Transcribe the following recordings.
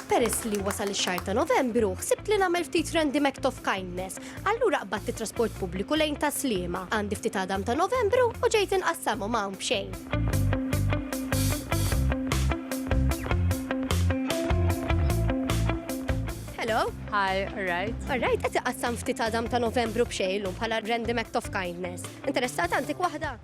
Peress li wasal ix-xahar ta' Novembru, ħsibt li nagħmel ftit random act of kindness. Allura qbadt it-trasport pubbliku lejn ta' Sliema. Għandi ftit għadam ta' Novembru u ġejt inqassamu ma' hawn b'xejn. Hello. Hi, alright. Alright, qed iqassam ftit għadam ta' Novembru b'xejn lum bħala random act of kindness. Interessat għandik waħda?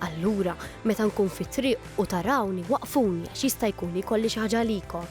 Allura, meta nkun fit-triq u tarawni, waqqfuni għax jista' jkun li jkolli xi ħaġa għalikom.